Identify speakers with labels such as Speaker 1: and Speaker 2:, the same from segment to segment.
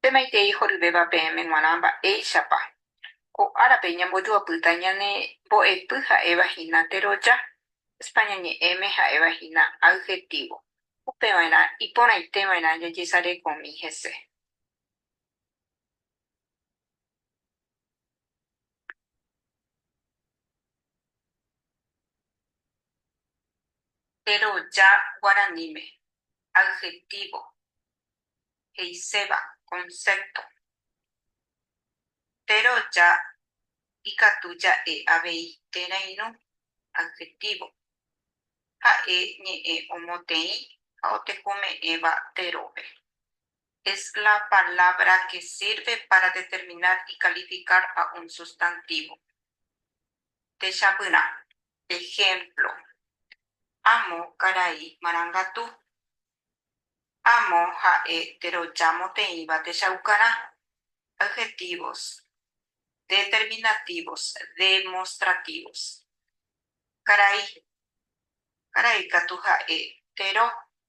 Speaker 1: Pemaitei horyvéva peẽme g̃uarã mba'éichapa ko árape ñambojoapýta ñane mbo'epy ha'éva hína teroja, España ñe'ẽme ha'éva hína adjetivo, upeva'erã iporãiteva'erã jajesarekomi hese. Jeroja guaraníme, adjetivo, he'iséva, concepto. Jeroja ikatu ja'e avei térã irũ, adjetivo, ha'e ñe'ẽ omoteĩ ha otekome'ẽva jerópe. es la palabra que sirve para determinar y calificar a un sustantivo. Techapyrã. Ejemplo, Amo karai marangatu. Amo ha'e teroja moteĩva techaukarã. Adjetivos determinativos, demostrativos. Karai. Karai katu ha'e tero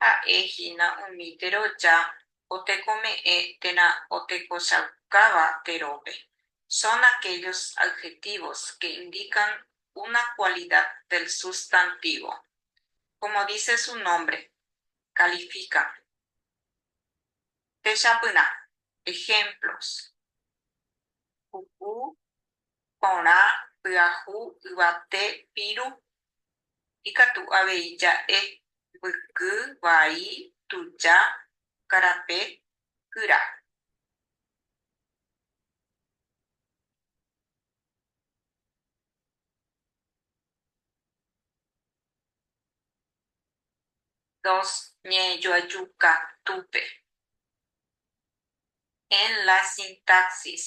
Speaker 1: Ha'e hína umi teroja otekome'ẽ térã otekochaukáva terópe. Son aquellos adjetivos que indican una cualidad del sustantivo. Como dice su nombre, califican. Techapyrã. Ejemplos. Puku. porã, pyahu, yvate, piru, ikatu avei ja'e, mbyky, vai, tuja, karape, kyra. Dos ñe'ẽjoaju katúpe. En la sintaxis,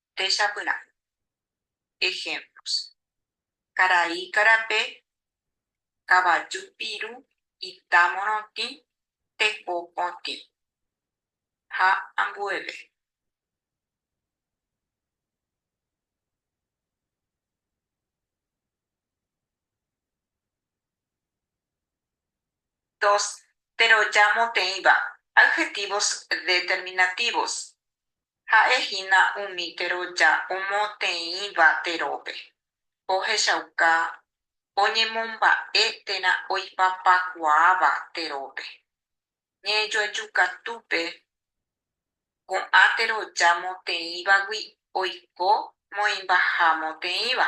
Speaker 1: péicha pyrãme. Ejemplos, Karai karape, kavaju piru, ita morotĩ, teko potĩ, ha ambueve. Dos, Teroja moteĩva, adjetivos determinativos, Ha'e hína umi teroja omotĩva terópe, ohechauka oñemomba'e térã oipapakuaáva terópe. Ñe'ẽjoaju katúpe ko'ã teroja motĩvagui oiko moĩmbaha motĩva.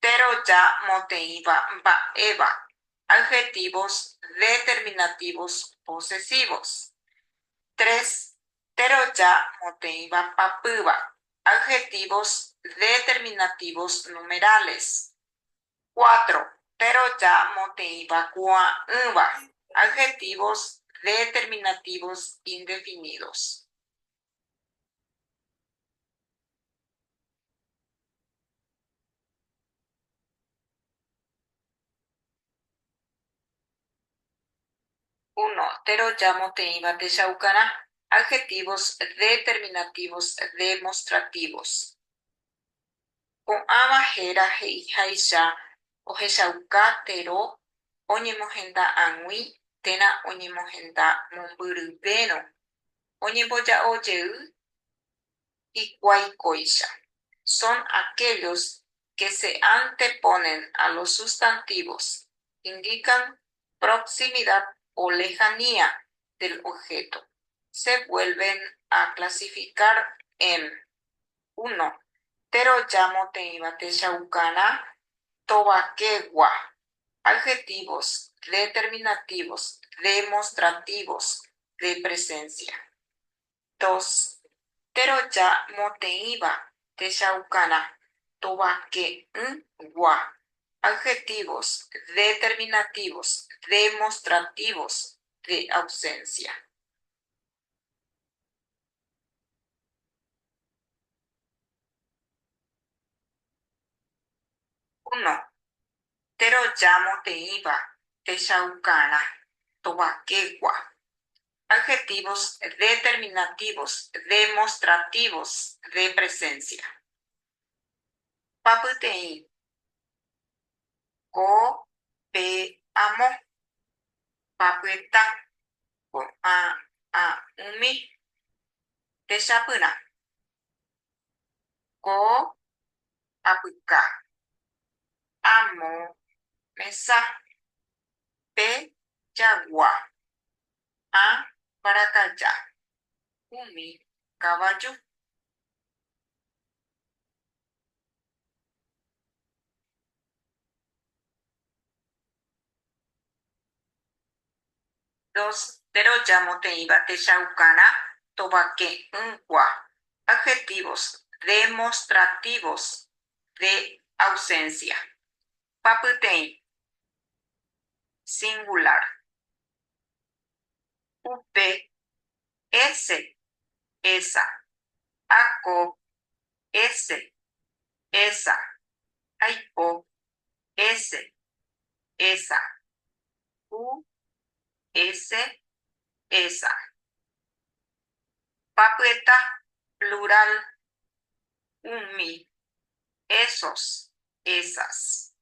Speaker 1: péro ja moteĩva mba'éva, adjetivos determinativos posesivos. Tres, péro ja moteĩva papýva, adjetivos determinativos numerales. Cuatro, péro ja moteĩva kuaa'ỹva, adjetivos determinativos indefinidos. Uno, térõ jamoteĩva techaukarã. Adjetivos determinativos demostrativos. Ko'ãva héra he'iháicha ohechauka térõ oñemohenda ag̃ui térã oñemohenda mombyryvérõ Oñemboja'o jey hikuái kóicha. Son aquellos que se anteponen a los sustantivos, indican proximidad o lejanía del objeto. Se vuelven a clasificar en, uno, Térõ jámo teĩva techaukarã tovakegua. Adjetivos determinativos demostrativos de presencia. Dos, Teroja moteĩva techaukarã tovake'ỹ gua. Adjetivos determinativos demostrativos de ausencia. Uno, térõ jamoteĩva techaukarã tovakegua. Adjetivos determinativos demostrativos de presencia. Papyteĩ. Ko, pe, amo. Papyeta. Ko'ã ha umi techapyrã. Ko apyka. Amo mesa. Pe jagua. Ha mbarakaja. Umi kavaju. Dos, Péro jamoteĩva techaukarã tovake'ỹkua. Adjetivos demostrativos de ausencia. Papyteĩ. Singular. Upe. Ese. Esa. Ako. Ese. Esa. Aipo. Ese, esa. U, ese, esa. Papyeta, plural, umi, esos, esas.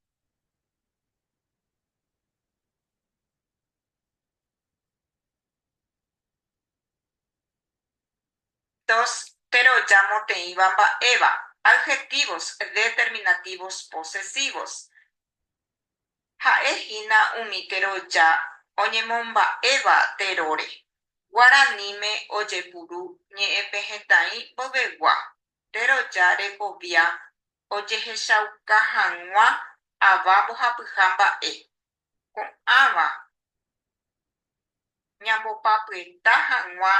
Speaker 1: Tos, péro jamoteĩva mba'éva. Adjetivos determinativos posesivos. Ha'e hína umi teroja oñemomba'éva teróre. Guaraníme ojepuru ñe'ẽpehẽtaĩ mboyvegua, teroja rekovia ojehechauka hag̃ua ava mbohapyha mba'e, ko'ãva ñambopapyeta hag̃ua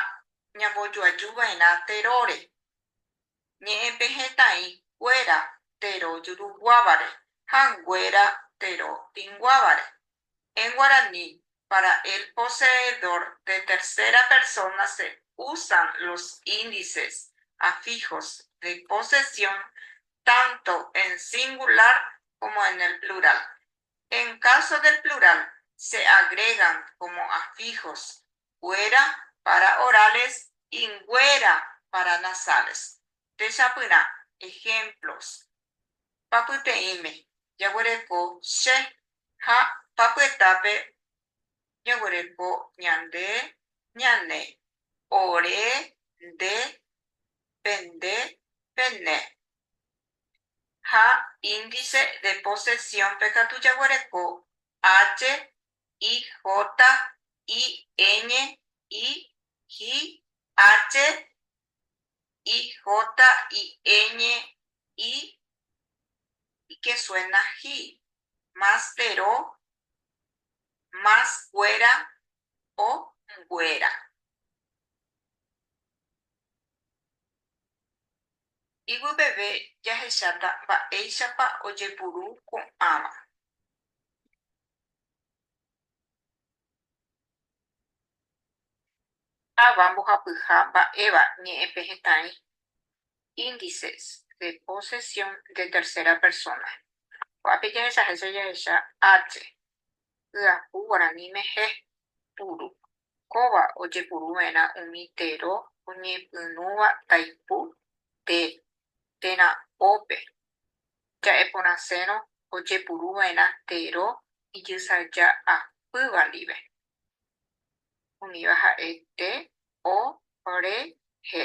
Speaker 1: ñambojoajuva'erã teróre, ñe'ẽpehẽtaĩ kuéra tero juruguávare ha nguéra tero tinguávare, en guaraní, para el poseedor de tercera persona se usan los índices afijos de posesión tanto en singular como en el plural, En caso del plural se agregan como afijos kuéra para orales y nguéra para nasales. Techapyrã ejemplos papyteĩme jaguereko che ha papyetápe ñoguereko ñande, ñane, ore, nde, pende, pene. ha Índice de Posesión-pe katu jaguereko H, I, J, I, Ñ, I, J, H, I, J, I, Ñ, I, y que suena ji, más tero, más kuéra o nguéra. Iguipeve jahecháta mba'éichapa ojepuru ko'ãva. Táva mbohapyha mba'éva ñe'ẽpe hetãi índices de posesión de tercera persona. Ko'ápe jahechahéicha jahecha H. hyapu guarani mehe, puru. Kóva ojepuru vẽrã umi tero oñepyrũva taipu te, térã ópe. Ja'e porãsérõ ojepuru vẽrã tero ijysaja apýva ndive. Umíva ha'e te, o, re, he.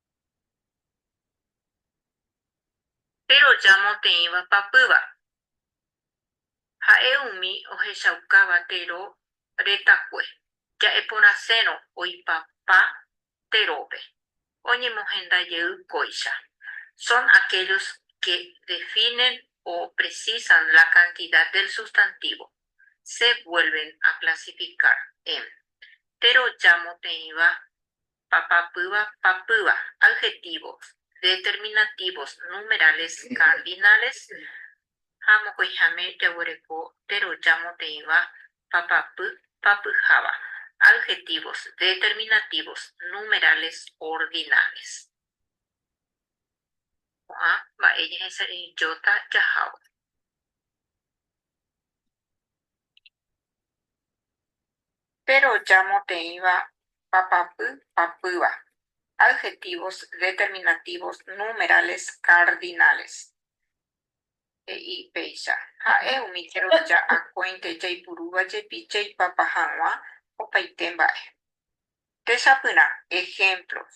Speaker 1: Péro jamoteĩva papýva. Ha'e umi ohechaukáva tero retakue, ja'e porãsérõ oipapa terópe, oñemohenda jey kóicha, son aquellos que definen o precisan la cantidad del sustantivo, se vuelven a clasificar en. Péro jamoteĩva Papapýva, papýva. Adjetivos, determinativos, numerales, cardinales ha mokõiháme jaguereko péro jamoteĩva papapy, papyháva. Adjetivos, determinativos, numerales, ordinales. Ko'ã mba'e jahesaraijóta jahávo. peroja moteĩva papapy papýva, adjetivos determinativos numerales cardinales. He'i péicha, Ha'e umi jeroja akóinte jaipurúva jepi jaipapa hag̃ua opaite mba'e. Techapyrã ejemplos.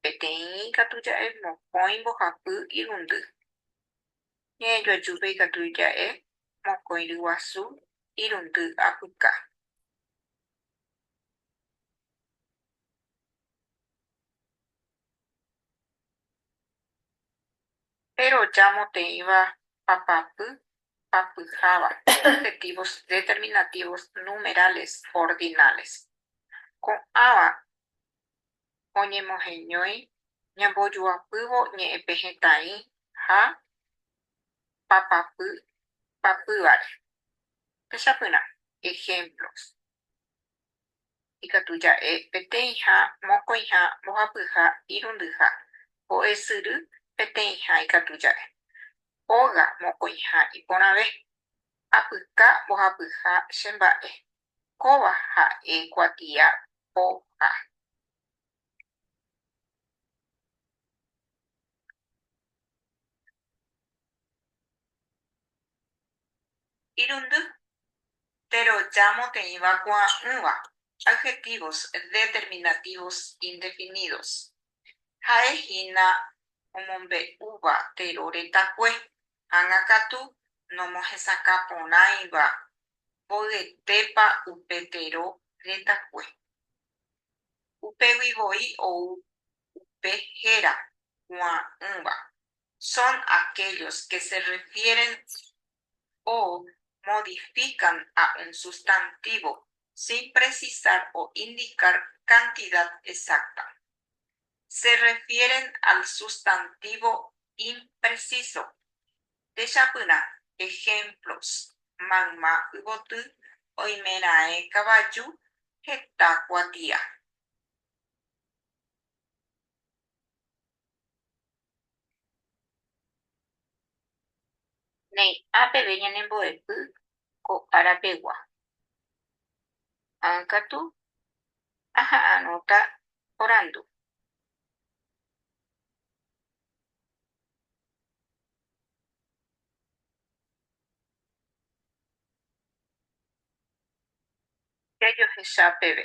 Speaker 1: Peteĩ ikatu ja'e mokõi mbohapy irundy. Ñe'ẽjoajúpe ikatu ija'e mokõi ryguasu irundy apyka. Péro ja moteĩva papapy papyháva adjetivos determinativos numerales ordinales. Ko'ãva oñemoheñói ñambojuapývo ñe'ẽpe hetãi ha papapy papývare. Techapyrã ejemplos. Ikatu ja'e peteĩha mokõiha mbohapyha irundyha ho'esyry peteĩha ikatu ja'e óga mokõiha iporãve. Apyka mbohapyha che mba'e Kóva ha'e kuatia po ha. Irundy. Péro jamoteĩva kuaa'ỹva adjetivos determinativos indefinidos. Ha'e hína omombe'úva térõ retakue Ág̃a katu nomohesakã porãiva mboyetépa upe tero retakue. Upégui voi ou upe héra kuaa'ỹva, son aquellos que se refieren o modifican a un sustantivo sin precisar o indicar cantidad exacta. se refieren al sustantivo impreciso. Techapyrã ejemplos, Mayma yvoty, oimeraẽ kavaju, heta kuatia. Ne'ã peve ñanembo'epy ko ára pegua. Ág̃a katu aha'arõta orandu. Jajohecha peve.